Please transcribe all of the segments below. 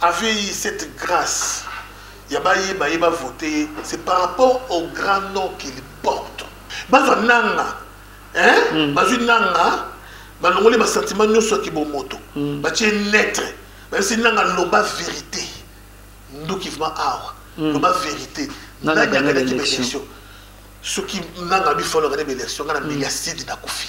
Avait eu cette grace ya ba ye ba ye ba voter ye c'est par rapport au grand nom qu'il porte bazwa nanga hein mm. bazwi nanga balongoli ba sentiment nyonso ya kibomoto mm. batie netre bayebisi nanga loba vérité nduki vraimen awa mm. loba vérité nani aganaki baélection soki nanga bifalaka nde baélection ngai na mbeli ya sidi nakufi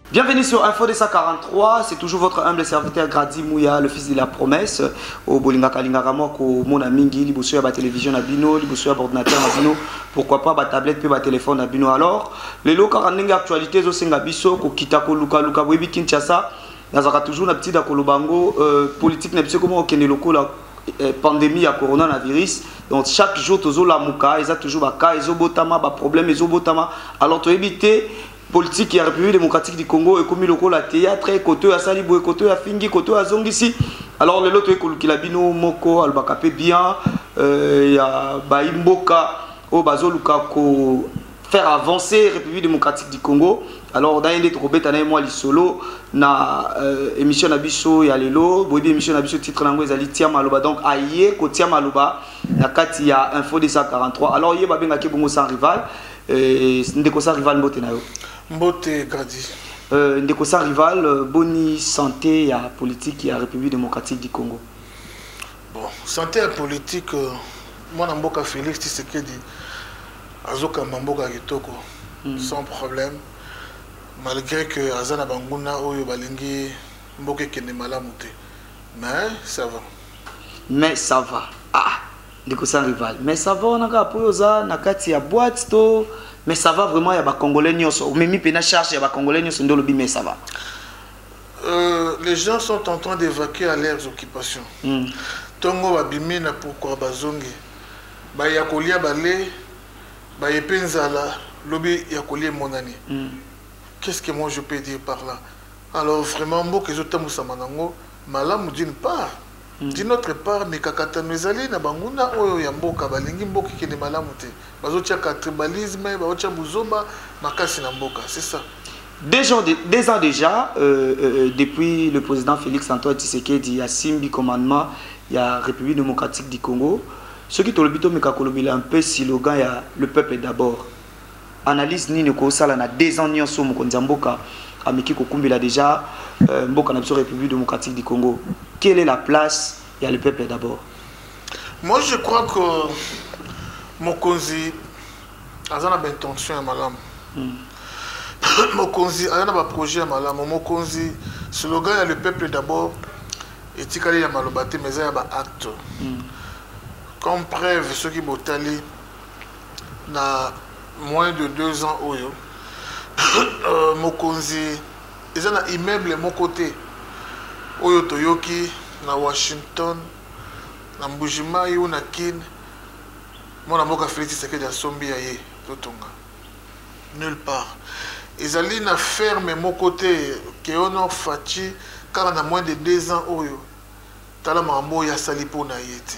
Bienvenue sur Info 243, c'est toujours votre humble serviteur Grady Mouya, le fils de la promesse. Au Bolinga Kalingaka moi ko mona mingi liboso ya ba télévision na bino, liboso ya ordinateur na bino, pourquoi pas ba tablette pe ba téléphone na bino. Alors, les lelo kaka ndenge actualité zo senga biso ko kita ko luka luka boyebi Kinshasa, nazaka toujours na petit da koloba ngo euh, politique na biso comment okende lokola euh, pandémie ya coronavirus donc chaque jour tozolamuka eza toujours baka ezobotama baproblème ezobotama alors toyebi te politique ya république démocratique du congo ekomi lokola théâtre koto oyo asali boye koto oyo afingi koto oyo azongisi alors lelo toyei kolukela bino moko alobaka mpe bien euh, ya bayi mboka oyo bazoluka ko faire avancer république démocratique du congo alors na ye nde tokobeta na ye mwa lisolo na euh, émission na biso ya lelo boyebi émission na biso titre na yango ezali tia maloba donc aye kotia maloba na kati ya info 243 alors ye babengaki bongo sans rival Euh, ndeko sa rival mbote na yo mbote gradi euh, ndeko sa rival euh, boni santé ya politique ya république démocratique du congo bon santé ya politique mwana mboka félix tisekedi azokamba mboka ya kitoko mm. sans problème malgré que aza na banguna oyo balingi mboka ekende malamu te mais ça va mais ça va ah ndeko sans rival mais ça va wana kaka mpo yo oza na kati ya boite to mais ça va vraiment ya bacongolais nyonso omemi mpena charge ya bacongolais nyonso nde olobi mais ça va euh, les gens sont en train d'évacuer à leurs occupations mm. ntongo babimi na pourkua bazongi baya kolia bale baye mpe nzala lobi ya kolia emonani mm. qu'est ce que moi je peux dire par là alors vraiment mboka ezotambwisama nango malamu d'une part D'une autre part, mikakatano ezali na banguna oyo ya mboka, balingi mboka ekende malamu te. Bazotiaka tribalisme, bazotia buzoba makasi na mboka. C'est ça. Deux ans, de, deux ans déjà, euh, euh, euh depuis le président Félix Antoine Tshisekedi a simbi commandement il y a République démocratique du Congo, ce qui tolobi tomeka kolobela un peu slogan ya le peuple d'abord. analyse nini okosala na deux ans nyonso mokonzi ya mboka ameki kokumbela déjà euh, mboka na biso république démocratique du congo quelle est la place ya le peuple d'abord moi je crois que mokonzi aza na baintention ya malamu hmm. mokonzi aza na baprojet ya malamu mokonzi slogan ya le peuple d'abord etikali ya maloba te mais eza ya baacte hmm. comme preuve soki botali na moins de deux ans oyo euh, mokonzi eza na immeuble moko te oyo toyoki na washington na mbujimai ou na kin mwana mboka felix tshisekedi asombi ya ye totonga nulle part ezali na ferme moko te keonor faci kaka na moins de deux ans oyo tala makambo oyo asali mpo na ye te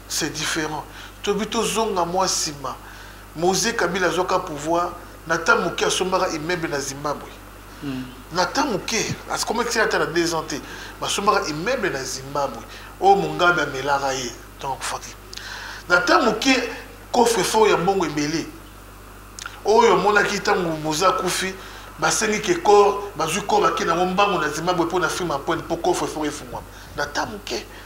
C'est different. Tobi tozonga mua sima. Moze Kabila azwaka pouvoir na temps moke asombaka immeuble na Zimbabwe. Mm. Na temps moke, akomaki ata na 2 ans te, basombaka immeuble na Zimbabwe. Oyo Mugabe amelaka ye ntango akufaki. Na temps moke coffre fort ya mbongo ebele oyo amonaki ntango Moze akufi basengi ke corps bazwi corps bakei nango mbango na Zimbabwe mpo na Freeman Point mpo coffre fort efungwama na temps moke.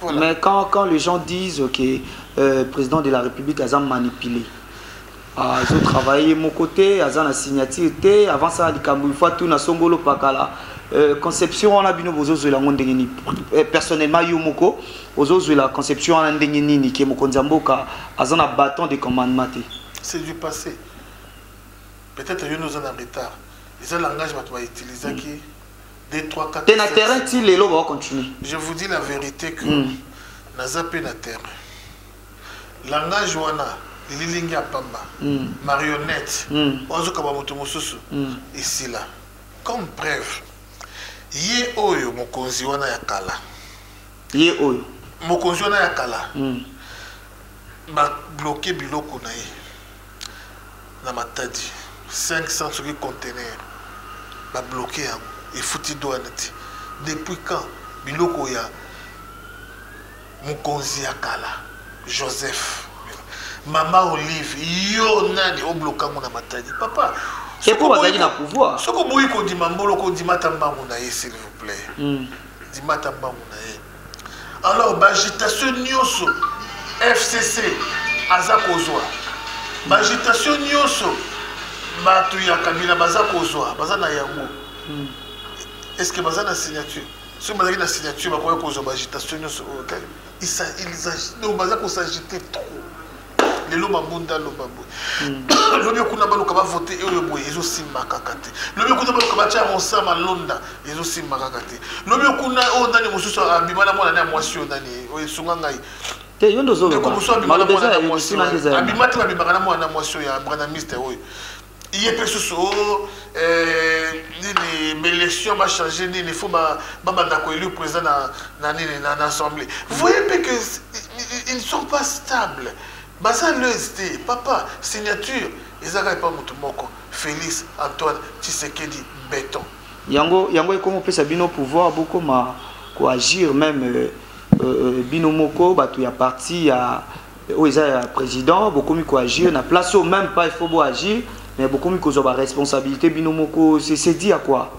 Voilà. Mais quand, quand les gens disent que le euh, président de la République a manipulé, ah, ils ont travaillé mon côté, ils ont signature, avant ça, les Camerounais, tout na songolo pakala. Euh, conception wana bino bozozwela yango ndenge nini euh, personnellement yo moko ozozwela conception wana ndenge nini ke mokonzi ya mboka aza na bâton de commandement te c'est du passé peut-être yo noza na retard eza langage bato bautilisaki mm. Des 3, 4, T'es na terrain, ti lelo, va continuer. Je vous dis la vérité que mm. naza pe na terrain. Langage wana, lilingi ya pamba, mm. marionnette, mm. ozo kaba moto mosusu, mm. ici là. Comme preuve, ye oyo mokonzi wana ya kala. Ye oyo. Mokonzi wana ya kala. Mm. Ba bloquer biloko na ye. na matadi 500 soki contener babloke yango efuti douane te depuis quand biloko ya mokonzi ya kala joseph mama olive yo nani obloka yango na matadi papa soki bazalaki na pouvoir soki oboyi kondima mbolo kondima ata mbangu na ye s'il vous plaît hmm. ndima ata mbangu na ye alors baagitation nyonso fcc aza kozwa baagitation nyonso bato ya kabila baza kozwa baza na yango hmm. est ce que baza na signature soki bazalaki na signature bakoki kozwa baagitation nyonso oyo oh, kaka donc baza kosagite trop lelo mabunda aloba boye hmm. lobi kuna baluka bavote oyo boye ezosimba kaka te lobi kuna baluka batya rosa malonda ezosimba kaka te lobi kuna oyo nani mosusu abima na mwana na mwasi oyo nani oyo esunga ngai te yo nde ozoloba abima te babimaka na mwana na mwasi oyo ya branamiste oyo ye mpe susu o oh, eh, nini belection bachange nini fo babanda koelu président na, na nini na, na assemblée voye mpe que ils ne sont pas stables baza leuse te papa signature ezalaka epa moto moko félix antoine tshisekedi béton yango yango ekomi kopesa bino pouvoir bokoma koagir même euh, euh, euh bino moko bato ya parti ya oyo eza ya président bokomi koagir na place oyo même pas il faut boagir mais bokomi kozwa baresponsabilité bino moko se dit ya quoi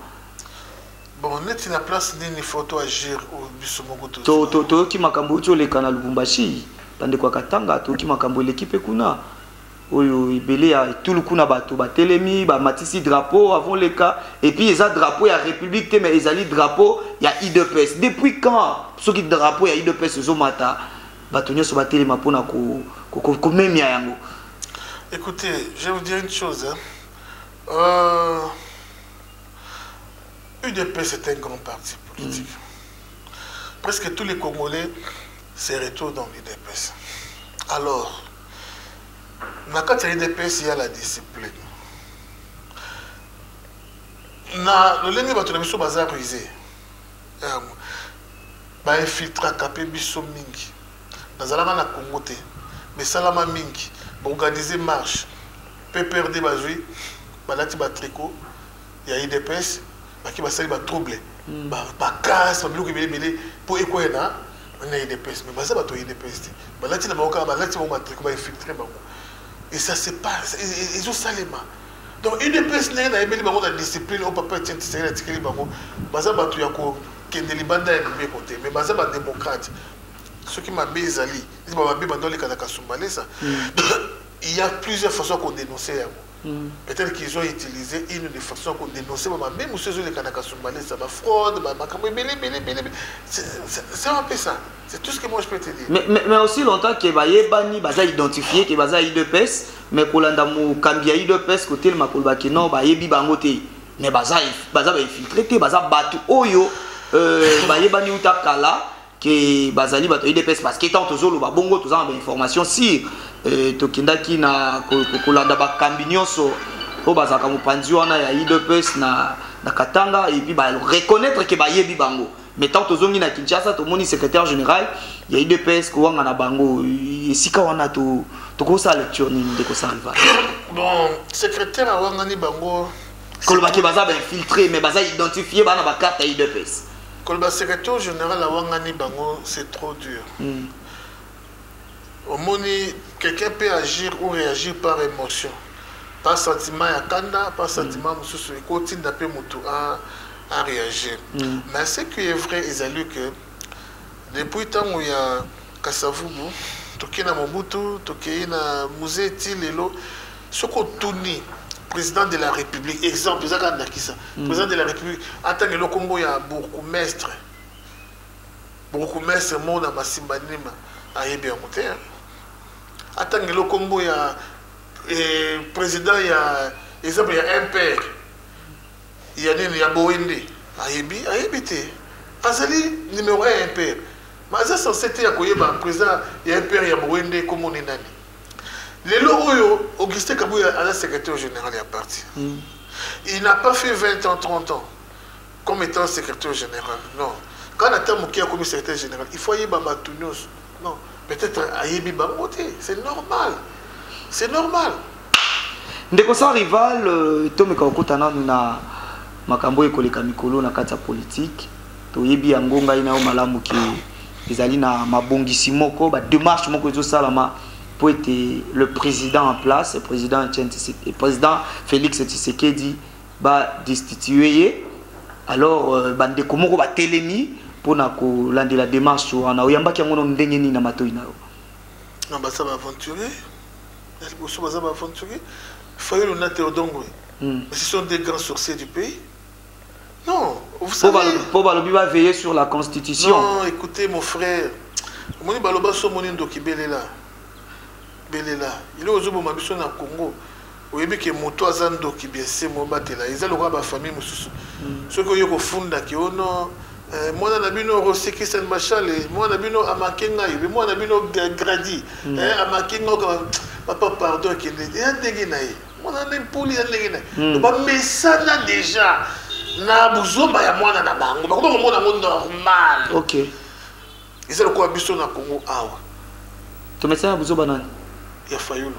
bon neti na place nini faut toagir biso moko toyoki makambo euti oleka na lubumbashi bandeko ya katanga toyoki makambo eleki mpe kuna oyo ebele ya etulu kuna bato batelemi bamatisi drapeau avant leka epuis eza drapeau ya république te mais ezali drapeau ya idps depuis quand soki drapeau ya idps ezomata Bato nyonso batelema mpo na komemia yango. Écoutez, je vais vous dire une chose. Hein. Euh, UDP, c'est un grand parti politique. Mm. Presque tous les Congolais se retrouvent dans l'UDPS. Alors, na kati ya udps ya la discipline na lolenge bato na biso baza ruse yango ba infiltraka pe biso mingi nazalaka na congo te mais esalama mingi ba organise marche pprd bazwi balati batrico ya idps bake basali batrouble hmm. bakase babiloko ebele ebele mpo ekwaya na na idps mais baza bato ya idps te balati na bango kaka balati bango batrico bainfiltre bango et ça se passe ezosalema donc udps ndenge nayebeli bango na discipline oyo papa etienne tisekeli atikeli bango baza bato ya kokende libanda ya mibeko te mais baza bademokrate soki mabe ezali neti bamabe banda oleka na kasumbalesa mm. il y a plusieurs façons ya kodénonce yango mm. peut-être qu'ils ont utilisé une des façons ya kodénonce bamabe mosusu ezoleka na kasumbalesa bafraude makambo ebele ebele ebele c'est un peu ça c'est tout ce que moi je peux te dire mais, mais, mais aussi longtemps que bayebani baza identifié que baza idps mais kolanda mokambi ya udps kotelema koloba ke non bayebi bango te mais baza baza bainfiltre te baza bato oyo euh, bayebani uta kala ke bazali bato ya udps parce que ntango tozoloba bongo toza na bainformation sire euh, tokendaki na kolanda bakambi nyonso oyo bazalaka mopanzi wana ya udps na, na katanga epuis bareconnaitre ke bayebi bango mais tant tozongi na kinshasa tomoni secrétaire général ya idps kowanga na bango esika wana tokosala to lecture nini ndeko sariva bon secrétaire awangani bango kolobaki baza bainfiltré mais baza identifie bana bakarte ya idps koloba secrétaire général awangani bango c'est trop dur mm. Omoni quelqu'un peut agir ou reagir par emotion, par sentiment ya kanda, par mm. sentiment mususu ekotinda pe mutu a a reagir. Mm. Mais ce qui est vrai ezali que depuis tango ya Kasavubu tokei na Mobutu, tokei na musée ti lelo soki otuni président de la république exemple eza kaka ndakisa mm. président de la république atangelo nkombo ya bourgmestre Bourgoumestre moko na Masimbanima ayebi yango te. Atangelo kombo ya eh, president ya exemple ya MPR ya nini ya Boende ayebi ayebi te. Azali numéro 1 MPR. Mais aza censé te ya koyeba president ya MPR ya Boende kombo ni nani. Lelo oyo Augustin Kabuya aza secrétaire général ya parti. Mm. Il n'a pas fait 20 ans 30 ans. comme etant secretaire general non kaka na temps moke akomi secretaire general il faut ayeba bato nyonso non peut-être ayebi bango te c'est normal c'est normal ndeko sans rival euh, tomeka kokota nanu na makambo oyo ekoleka mikolo na kati ya politike toyebi yango ngai nayo malamu ke ezali na mabongisi moko bademarche moko ezosalama mpo ete le président en place président, président félix tshisekedi ba destituer ye alors euh, ba ndeko moko ba telemi pona ko landela démarche wana oyambaki yango no ndenge nini na matoyi na yo na basa ba aventurier na liboso baza ba aventurier fayulu na teodongo hmm. ce sont des grands sorciers du pays non vous savez po balobi ba veiller sur la constitution non écoutez mon frère omoni baloba so omoni ndoki belela belela eloko ozoboma biso na congo oyebi ke moto aza ndoki biense mobatela eza lokola bafamille mosusu mm. soki oye kofunda ke ono oh eh, mwana na bino rosi christian bashale mwana na bino amake ngai be mwana na bino gradi mm. eh, amake ngai papa pardon akende eya ndenge na ye mwana na mpoli ya ndenge na ye mm. bamesana deja na buzoba ya mwana na bango bakomi komona yango normal okay. eza lokola biso na congo awa tomesana ya buzoba nani ya fayulu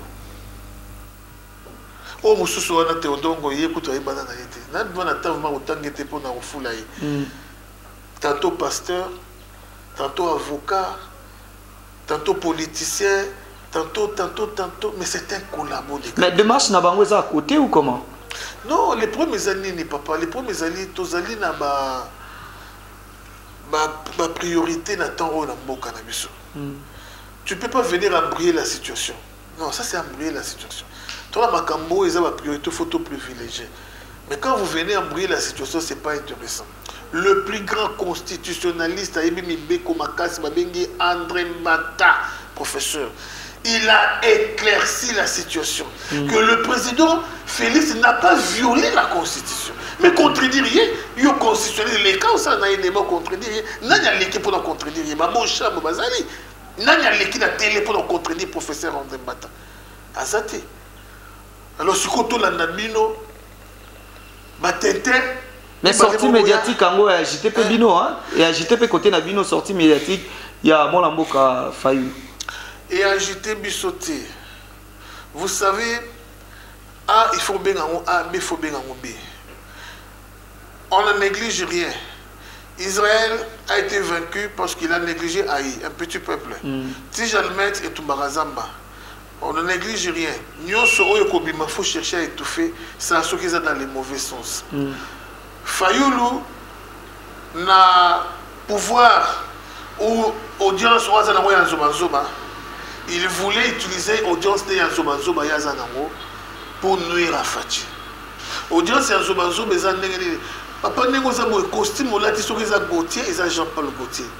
oyo mosusu wana teodongo ye kutu ayebana na ye te nadima na ntango ma kotange te mpo na kofula ye hmm. tantôt pasteur tantôt avocat tantôt politicien tantôt tantôt tantôt mais c'est un collabo de mais démarche na bango eza à côté ou comment non les problème eza nini papa les problème ezali tozali na ba ba priorite na temps oyo na mboka na biso tu peux pas venir embriller la situation non ça c'est embriller la situation tona makambo oyo eza ba priorité faut to privilégier mais quand vous venez embriller la situation c'est pas intéressant le plus grand constitutionnaliste ayebi mibeko makasi babengi andre mbata professeur il a éclairci la situation mm. que le président Félix n'a pas violé la constitution mais contredire ye yo constitutionnel eleka osala na ye deba contredire ye nani aleki mpona contredire ye baboshambo bazali nani aleki na tele mpona contredire professeur andre mbata aza te Alors siko tolanda bino ba tintin mais sortie médiatique yango ya agité mpe bino ya agité mpe kote na bino sortie médiatique ya mwana mboka fayu e agité biso te vous savez a il faut obenga yango a b faut obenga yango b on ne néglige rien Israël a été vaincu parce qu'il a négligé Haï, un petit peuple. Mm. Tijalmet et Tumbarazamba. On ne neglige rien. Nionso oyo kobima faut chercher à étouffer ça soki eza dans le mauvais sens. Mm. Fayulu na pouvoir ou audience oyo aza nango ya nzobanzoba il voulait utiliser audience nde ya nzobanzoba ye aza nango pour nuire à Fatshi. Audience ya nzobanzoba eza ndenge nini papa ndenge oza boye costume olati soki eza gautier eza jean paul gautier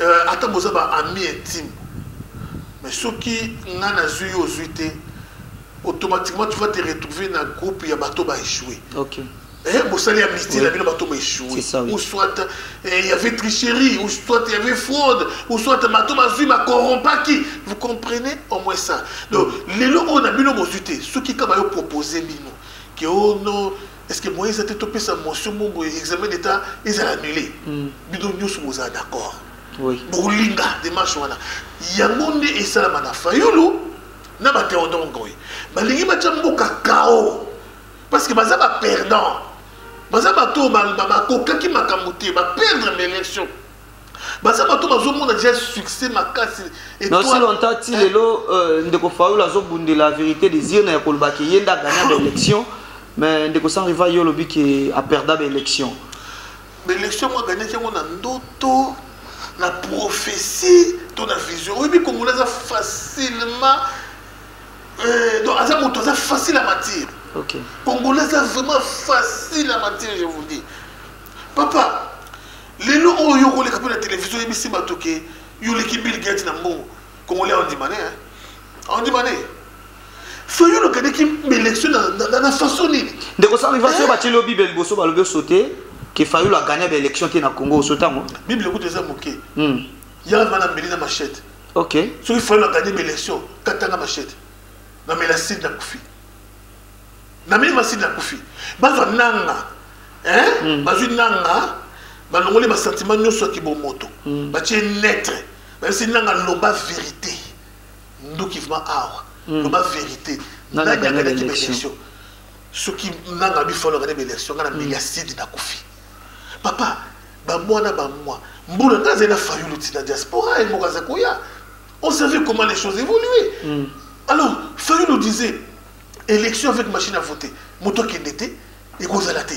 euh, ata boza ba ami intime mais soki nga nazwi yo ozwi te automatiquement tu vas te retrouver na groupe ya bato baéchoué okay. Eh, bosali ya mistie na bino bato baéchoué ou soit eh, il y avait tricherie ou soit il y avait fraude ou soit bato bazwi bacorrompaki vous comprenez au moins ça donc lelo oyo na bino bozwi te soki kaka yo propose bino ke ono oh est ce que moyen eza te topesa motion moko boye examen d'état ezala annulé hmm. bino nyonso bozala d'accord bokolinga demarche wana yango nde esalama na fayulu na bateodon ngoyi balingi batya mboka kao parce que baza baperdant baza bato oyo bakokaki makambo te baperdre baélection baza bato bazomona deja succès makasi aussi longtemps ti lelo euh, ndeko faul azobundela vérité des urnes ya koloba ke ye nde agagna baélection mais ndeko sans rival yo olobi ke aperda baélection baélection yango agagnaki yango na ndoto na prophétie to na vision oyebi kongola aza facilement euh, donc aza moto aza facile à matir okay. kongola aza vraiment facile à matir je vous dis papa Lelo oyo yo koleka mpe na televizio oyebisi bato ke yo oleki Bill Gates na mbongo. Congolais aondima ne, aondima ne. Fayulu akendeki baelection na façon nini? Ndeko Sarivasi oyo eh? batyeli yo Bible liboso balobi osote ke Fayulu agagna baelection te na Congo osote yango? Bible kutu eza moke. Hmm. Yango wana mbeli na machete. Ok. Soki Fayulu agagna baelection katanga machete. Na melaside na kufi. na mimi masini akufi bazwa nanga hein? mm. bazwi nanga balongoli basantima nyonso ya kibomoto mm. batie netre bayebisi nanga loba verité nduki vrima awa mm. loba verité nani akanaki baélection soki nanga bifalo akani baélection ngai na mbeli ya sidi nakufi papa bamwa na bamwa mbula ngai azali na fayulu ntina diaspora ye moko aza koya on savait comment les choses évoluer mm. alors fayulu disait Election avec machine à voter. Moto kende te, ekozala te.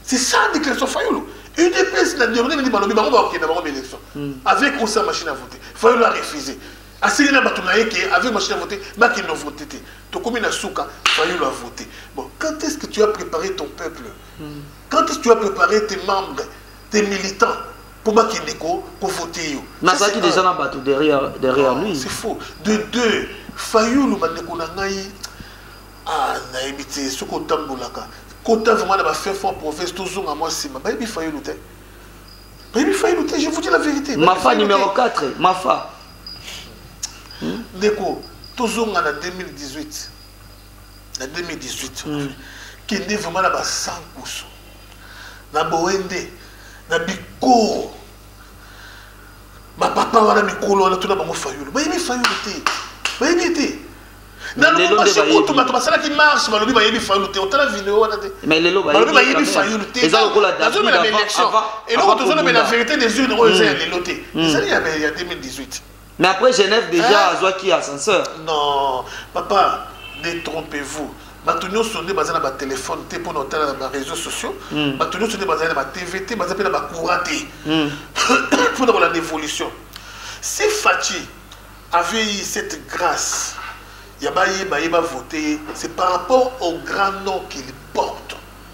C'est ça la déclaration Fayulu. UDPS na déroulé ni balobi bango ba kende bango élection. Hmm. Avec ou sans machine à voter. Fayulu a refusé. Asili na bato na ye que avec machine à voter, ba kende voter te. Tokomi na suka, Fayulu a voté. Bon, quand est-ce que tu as préparé ton peuple? Hmm. Quand est-ce que tu as préparé tes membres, tes militants? Pour moi, qui est ko voter yo. Nazaki déjà na bateau derrière derrière oh, lui. C'est faux. De deux, Fayoulou bandeko na ngai ah na ebité ce ko tambolaka. Kota vraiment na ba fait fort province tozonga moi sima. Ba ebi Fayoulou te. Ba ebi Fayoulou te, je vous dis la vérité. Ma fa numéro 4, ma fa. Hmm? Ndeko, tozonga na 2018. Na 2018. Hmm. Kende vraiment na ba 100 kusu. Na boye nde na bikoro ba papa wana mikolo wana tuna bango fayulu bayebi fayulu te bayebi ye te na lubumbashi kutu bato basalaki marche balobi bayebi fayulu te otala video wana te balobi bayebi fayulu te nazomela baélection eloko tozolobela vérité des urnes oyo eza ya lelo te ezali ya 2018 Mais après Genève déjà hein? azwaki ascenseur. Non, papa, détrompez-vous. bato nyonso nde baza na batelefone te mpo na otala na bareseau sociaux hmm. bato nyonso nde bazali na batv te baza mpe na bacourant te hmm. mpo na kolanda évolution si faci avait eu cette grâce ya bayeba ye bavote ye c'est par rapport au grand nom qu'il porte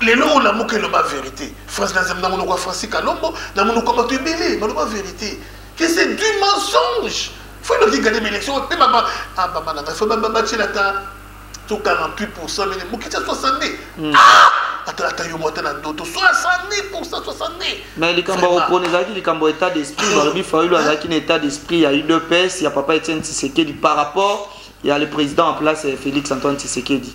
lelo olamuka eloba verité france nazem na monoko ya franci kalombo na monoko ya bato ebele baloba verité que c'est du mensonge faut eloki gade baélection mpe baba ah, baba na ngai fo batyela ata to 48 pourcent mene mokiti ya 62 hmm. ah! ata ata yo mwata na ndoto 62 pourcent 62 mais likambo ya kopona ezalaki likambo ya état d'esprit balobi fayulu azalaki na état d'esprit ya udps ya papa etienne tshisekedi par rapport ya le président en place eh, félix antoine tshisekedi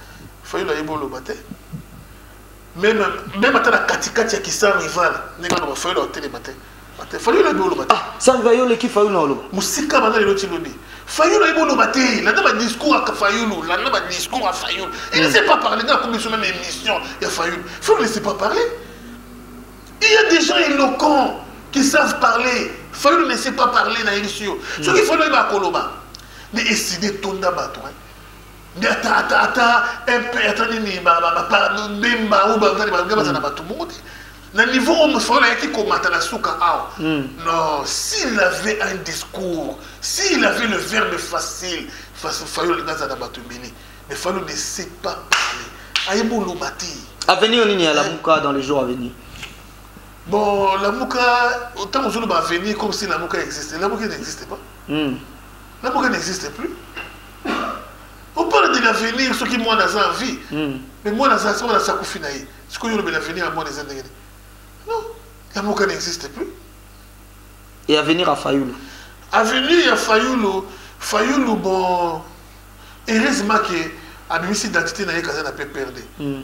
fayulu ayebi oloba te meme meme ata na katikati ya kisa rival ndenge aloba fayulu aotelema te te fayulu ayebi oloba te ah, sanva yo oleki fayulu na oloba mosika banda lelo ti lobi fayulu ayebi oloba te landa badiscours ya fayulu landa badiscours ya fayulu il ne sait pas parler nga akomi biso meme émission ya fayulu fayulu ne sait pas parler il y a des gens éloquents qui savent parler fayulu ne sait pas parler na yebisi yo soki fayulu ayeba akoloba mais eside etonda bato nde ata ata ata mp ata nini bemba oyo bazali balinga bazala mm. bato bongo te na niveau oyo mosolo ayaki komata na suka awa mm. non s'il avait un discours s'il avait le verbe facile fayo olinga azala na bato ebele mais fayo ne sait pas parler ayebi oloba te avenir nini ya lamuka dans les jours à venir bon lamuka ntango ozoloba avenir comme si lamuka existe lamuka n'existe pas mm. lamuka n'existe plus opala de l'avenir soki mwana aza na vie hmm. mais mwana aza soki aza akufi na ye sikoyo olobela avenir ya mwana eza ndenge nini non la moka n'existe plus et avenir ya fayulu avenir ya fayulu fayulu bon heureusement ke abimisi identité na ye kaza na pprd mm.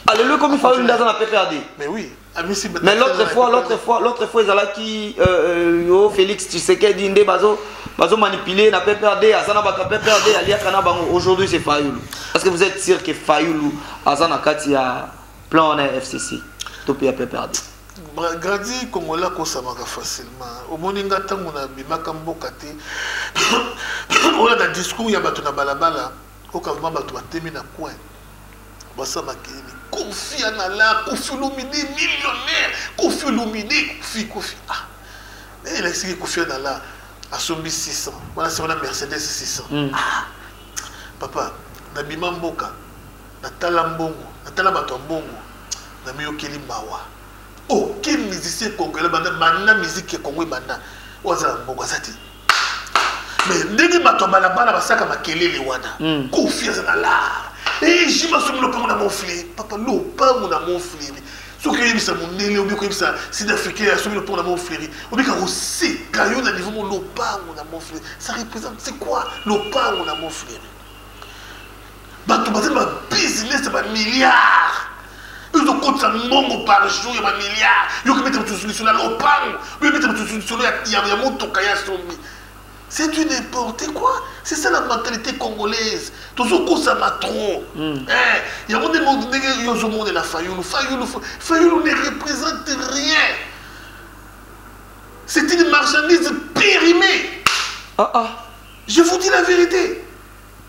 Alléluia, comme Fayoul Ndaza na PPRD. Mais oui. Ah, mais l'autre fois, l'autre fois, l'autre fois, ils allaient qui, euh, euh, Félix, tu sais qu'elle dit, Ndé Bazo, Bazo manipulé, na PPRD, Azana Baka PPRD, Alia Kanabango. Aujourd'hui, c'est Fayoul. Est-ce que vous êtes sûr que Fayoul, Azana Kati, a plan en FCC, Topi à PPRD? gradi kongola akosamaka facilement omoni nga ntango nabimaka mboka te oyo na discours ya bato na balabala Oyo kavema batu ba temi na coin basa makeyeni kofi anala kofi olomide millionnaire kofi olomide kofi kofi ah nani elakisiki kofi anala asombi 600 wana se wana mercedes 600 mm. ah papa nabima mboka natala mbongo natala bato ya mbongo namiyokeli mawa aucun musicien congolais banda banda musique ya congo ebanda oyo aza na mbongo aza te mais ndenge bato ya balabala basaka makelele wana hmm. confiance na lar ejima eh, soki lopango na monfle papa lopango na monfle soki oyebisa mondele obi koyebisa sud africain ya soki lopango na monfleri obika koseka yo na niveau mo lopango na monfleri ça représente c'est quoi lopango na monfleri bato bazali ba business ya bamilliard ezokotisa mbongo par jour ya bamilliard yokibeta mosusu lisolo ya lopango oyobeta mosusu lisolo ya motoka ya sombi c'est du n'importe quoi c'est ça la mentalité congolaise tozokosama trop hmm. eh, yango nde ndenge yo ozomonela fayulu fayulu fayulu ne représente rien c'est une marchandise périmée ah, ah. je vous dis la vérité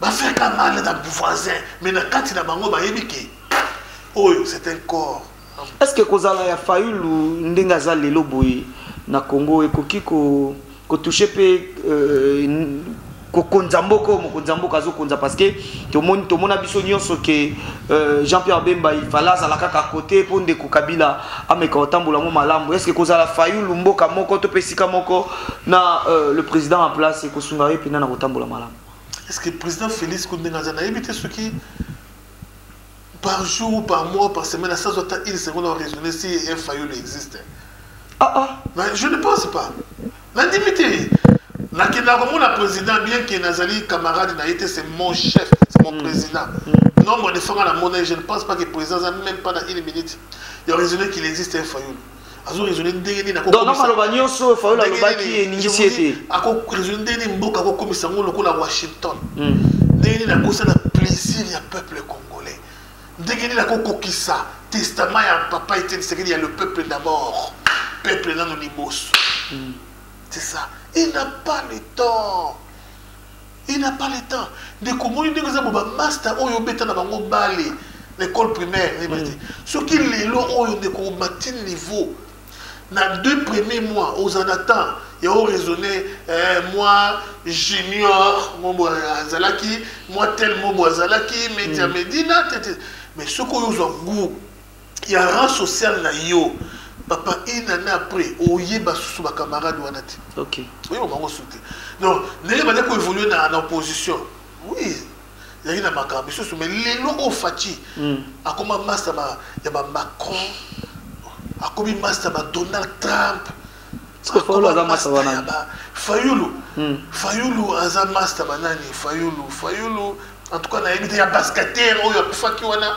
bafeka mal na voisin mais na kati na bango bayebi ke oyo c'est un corps est ce que kozala ya fayulu ndenge aza lelo boye na congo ekoki ko kotouche mpe euh, kokonza mboka oyo mokonzi ya mboka azokonza parce que tomoni tomona biso nyonso ke euh, jean pierre bemba ifale azala kaka kote mpo ndeko kabila ameka kotambola yango malamu est ce que kozala fayulu mboka moko to mpe esika moko na euh, le président en place ekosunga ye mpena na kotambola malamu est ce que président félix kutu ndenge aza nayebi te soki par jour ou par mois par semaine asazwa ata une seconde a raisonner si un fayulu existe ah, ah. Mais je ne pense pas nandimi te nakenda komona président bien ke nazali camarade na ye te c'est mon chef c'est mon mm. président mm. nombre de fois nga namona ye je ne pense pas que président aza même pas na une minute ya raisonner qu'il existe un fayulu azo raisonner ndenge nini ako donc maloba nyonso Fayulu alobaki eningisi ete ako raisonner ndenge nini mboka ako komisa yango lokola Washington hmm. ndenge nini akosala plaisir ya peuple congolais ndenge nini ako kokisa testament ya papa Etienne Tshisekedi ya le peuple d'abord peuple nano liboso hmm. c'est ça il n'a pas le temps Il n'a pas le temps. Ndeko moni ndenge eza boba master oyo obeta na bango bale na école primaire ne bate. Mm. Soki lelo oyo ndeko mati niveau na deux premiers mois aux en attend ya o raisonner eh, moi junior mobo azalaki moi tel mobo azalaki media mm. medina tete mais soki oyo ozwa goût ya rang social na yo papa une année après oyeba susu ba camarade wana te okay. oyeba bango susu te donc ndenge banda koévolue na, na opposition oui ezalaki na makambo misusu mais lelo oyo faci mm. akoma masta ba, ya bamacron akomi masta ba donald trump fayulu aza masta banani fayulu mm. fayulu aza masta banani fayulu fayulu en tout cas nayebi te ya basketer oyo akufaki wana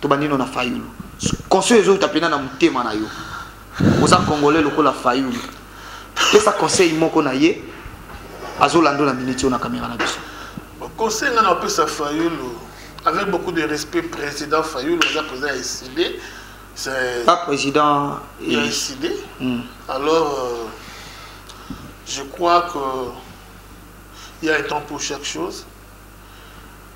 tobandi no na fayulu conseil ezouta mpena na motema na yo oza congolais lokola fayulu pesa conseil moko na ye azolanda na miniti oyo na kamera na biso conseil ngai napesa fayulu avec beaucoup de respect président fayulu aza président ya eside pas président ya eside hmm. alors euh, je crois que il y a un temps pour chaque chose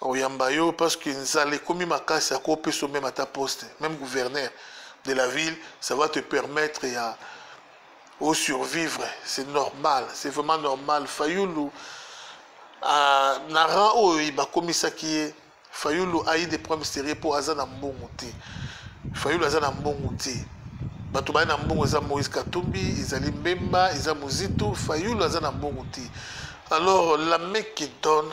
oyamba yo parce que nzala ekomi makasi akopesa meme ata poste même gouverneur de la ville ça va te permettre ya au survivre c'est normal c'est vraiment normal fayulu euh, na rang oyo bakomisaki ye fayulu ayi des problèmes sérieux mpo aza na mbongo te fayulu aza na mbongo te bato baye na mbongo eza moïse katumbi ezali mbemba eza mozitu fayulu aza na mbongo te alors la mec qui donne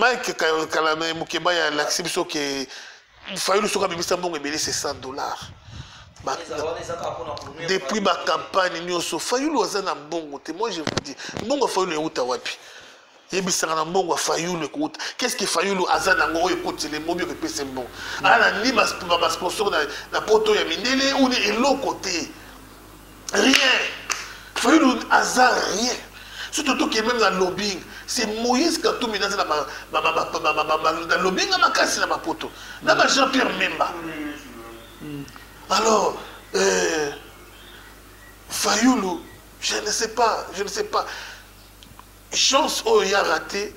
mike kala na mokeba ya lakisi biso ke fayulu soki abimisa mbongo ebele se 100 dollars depuis bacampagne nyonso fayulu aza na mbongo te moi je vous dis mbongo ya fayulu euta wapi yebisaka na mbongo ya fayulu ekouta qu'est-ce que fayulu aza nango oyo ekotele mobi oyo epese mbongo ana ni basponsor na poto ya mindele ou ni eloko te rien fayulu aza rien soki totoki meme na lobbying c'est moïse katumbi naza na lobbying ya makasi na bapoto na ba jean pierre memba hmm. alors euh, fayulu je ne sais pas je ne sais pas chance oyo ya rate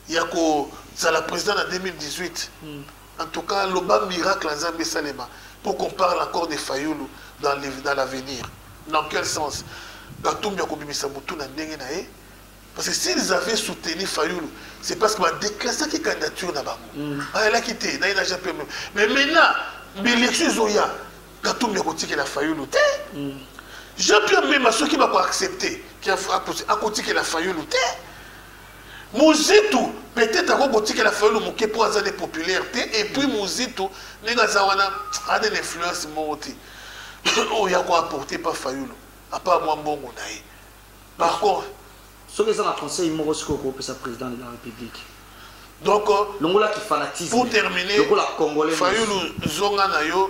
ya kozala président na 2018 mm. en tout cas loba miracle ya nzambe esalema pour qu'on parle encore de fayulu dans, dans l'avenir dans quel sens katumbi akobimisa motu na ndenge na ye parce que s'ils avaient soutenu fayulu c'est parce que badéclassaki candidature na bango mm. bayalaki te na ena jpm mais maintenant bilection ezoya katumbi akotikela fayulu te mm. jpm mema soki bakoaccepte akotikela fayulu te Muzitu peut-etre ako kotikela Fayulu moke po aza ne populaire te et puis Muzitu ndenge aza wana ane na influence moko te oyo ako apporter pa Fayulu apa mwa mbongo na ye par contre soki eza na conseil moko sikoyo okopesa président de la république donc euh, longola ki fanatisme pour terminer lokola congolais fayulu zonga na yo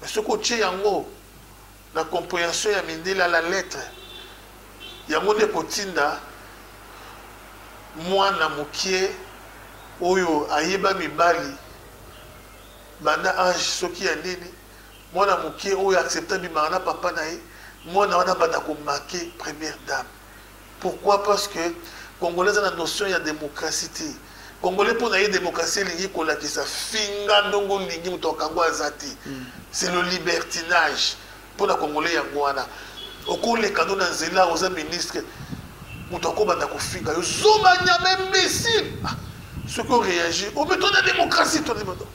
Mais soki otie yango na comprehension ya mindele à la lettre, yango nde ekotinda mwana mokie oyo ayeba mibali banda age soki ya nini, mwana mokie oyo accepta abimaka na papa na ye, mwana wana abanda ko make première dame. Pourquoi parce que congolais aza na notion ya démocratie te congolais mpo na ye démocratie elingi kolakisa finga ndongo olingi moto akango aza te mm. c'est le libertinage mpo na congolais yango wana okoleka no na nzela oza ministre moto akobanda kofinga yo zoba nyama imbécile ah, soki oréagir obe oh, to na démocratie to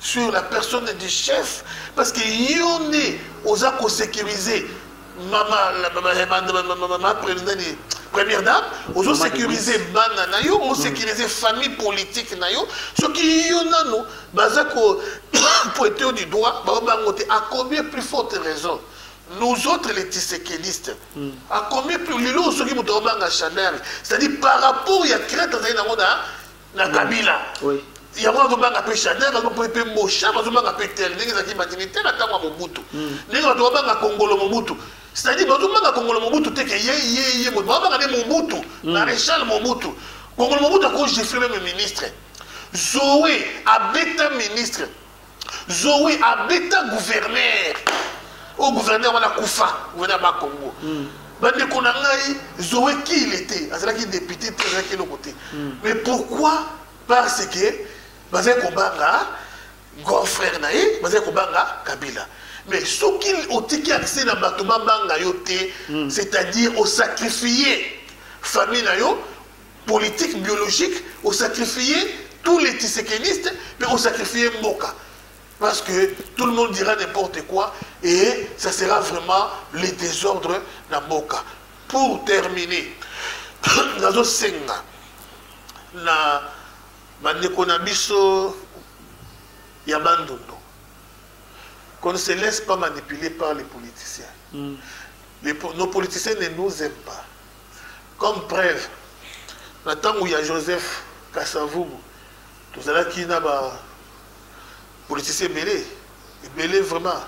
sur la personne du chef parce que yo nde oza kosécurise mama première dame ozosécurise bana na yo osécurise famille politique na yo soki yo nano baza ko pointe yo du doigt bango bango te à combien plus forte raison nous autres les tisekelistes mm. à combien plus lelo soki moto obanga chanel c'est-à-dire par rapport ya crête azali nango na na kabila yango azobanga mpe chanel azobanga mpe bosham azobanga mpe tel ndenge ezalaki bandimi te na ntango ya mobutu hmm. ndenge bato babanga kongolo mobutu c'est-à-dire bazobanga kongolo mobutu te ke ye ye ye moto babanga nde mobutu hmm. maréchal mobutu kongolo mobutu akogifre meme ministre zoe abeta ministre Zoe abeta gouverneur. Au gouverneur wana kufa, gouverneur ba Congo. Mm. bandeko na ngai zoe kile te azalaki depute te azalaki eloko te hmm. mais pourquoi parce que bazali kobanga grand frère na ye bazali kobanga kabila mais soki otiki accès na bato babanga yo te hmm. c'est-à-dire osacrifie famille na yo politique biologique o sacrifier tous les tisekenistes mais o sacrifier mboka parce que tout le monde dira n'importe quoi et ça sera vraiment le désordre na mboka pour terminer nazosenga na bandeko na biso ya bandundu qu'on ne se laisse pas manipuler par les politiciens mm. les, nos politiciens ne nous aiment pas Comme preuve, na tango ya Joseph Kasavubu, tozalaki na ba politiciens ebele, ebele vraiment,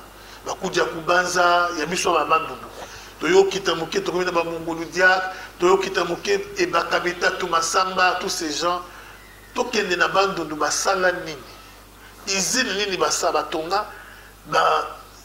bakudi ya kubanza, ya biso ya bandundu. Toyokita moke, tokomi na ba mongolu diak, toyokita moke, ebakabeta, tumasamba, tous ces gens. Tokende na bandundu, basala nini? Usine nini basa, batonga, ba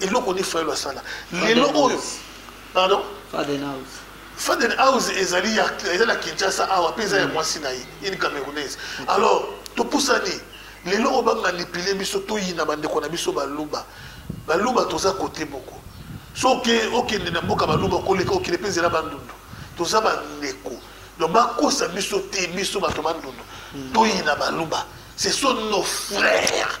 eloko ni fayulu asala lelo oyo pardon faden house faden house ezali ya eza na kinshasa awa mpe eza ya mwasi na ye une camerounaise alors topusani lelo oyo bamanipule biso toyina bandeko na biso baluba baluba toza kote moko soki okende na mboka baluba okoleka okende mpe ezela bandundu toza bandeko donc bakosa biso te biso bato bandundu toyina baluba ce sont nos frères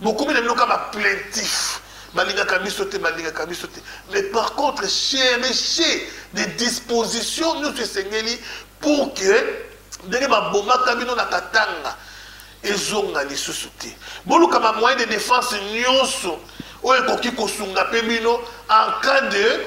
Bokomi na bino ka ba plaintif. Balingaka biso te, balingaka biso te. Mais par contre, cherchez des dispositions nous esengeli pour que ndenge babomaka bino na Katanga ezonga lisusu te. Boluka ba moyen de défense nyonso oyo ekoki kosunga pe bino en cas de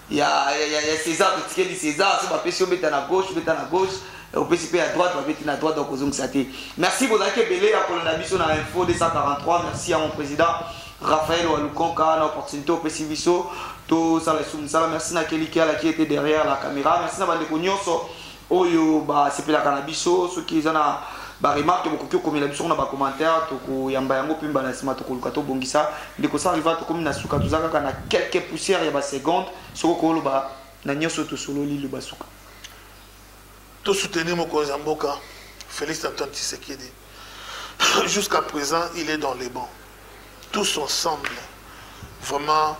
ya ya ya César totikeli César so bapesi obeta na gauche beta na gauche opesi mpe ya droite babeti na droite okozongisa te merci bozalaki ebele ya kolanda biso na info 243 merci ya mon président Raphaël Walukonka na opportunité opesi biso tosala lisusu mosala merci na keliki alaki ete derrière la caméra merci na bandeko nyonso oyo basepelaka na biso soki eza na baremarke bokoki okomela biso na bacommentaire tokoyamba yango mpe mbala ya nsima tokoluka tobongisa ndeko sariva tokomi na suka toza kaka na quelque poussière ya baseconde soki okoloba na nyonso tosololi loba suka tosoutenir mokonzi ya mboka félix antoine tshisekedi jusqu'à présent il est dans les bancs tous ensemble vraiment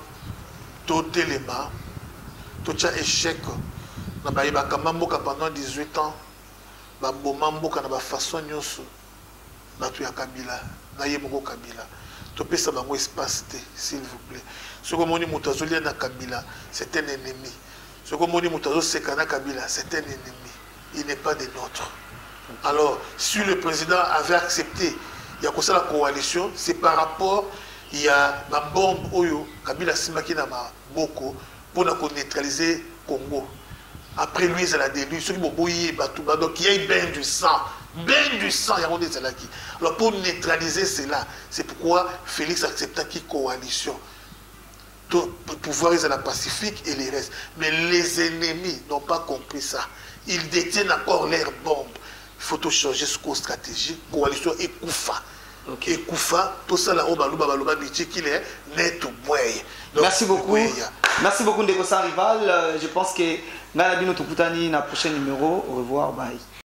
totelema totya échec na baye bakamba mboka pendant 18 ans baboma mboka na bafaçon nyonso bato ya kabila na ye moko kabila topesa bango espace te s'il vous plaît soki omoni moto azolia na kabila c'est un ennemi soki omoni moto azoseka na kabila c'est un ennemi il n'est pas des nôtres alors si le président avait accepté ya kosala coalition c'est par rapport ya bambombe oyo kabila asimbaki na maboko mpo na koneutralize congo après lui ezala de lui soki boboyi ye bato ba donc ya bain du sang bain du sang yango nde ezalaki alors pour neutraliser cela c'est pourquoi félix acceptaki coalition To pouvoir ezala pacifique et les restes mais les ennemis n'ont pas compris ça ils détiennent encore leur bombe il faut to changer sikoyo stratégie coalition ekufa okay. ekufa tosala oyo baluba baloba bitikile netu bweye merci beaucoup bweya. merci beaucoup ndeko sans rival euh, je pense que ngai na bino tokutani na prochain numéro au revoir bye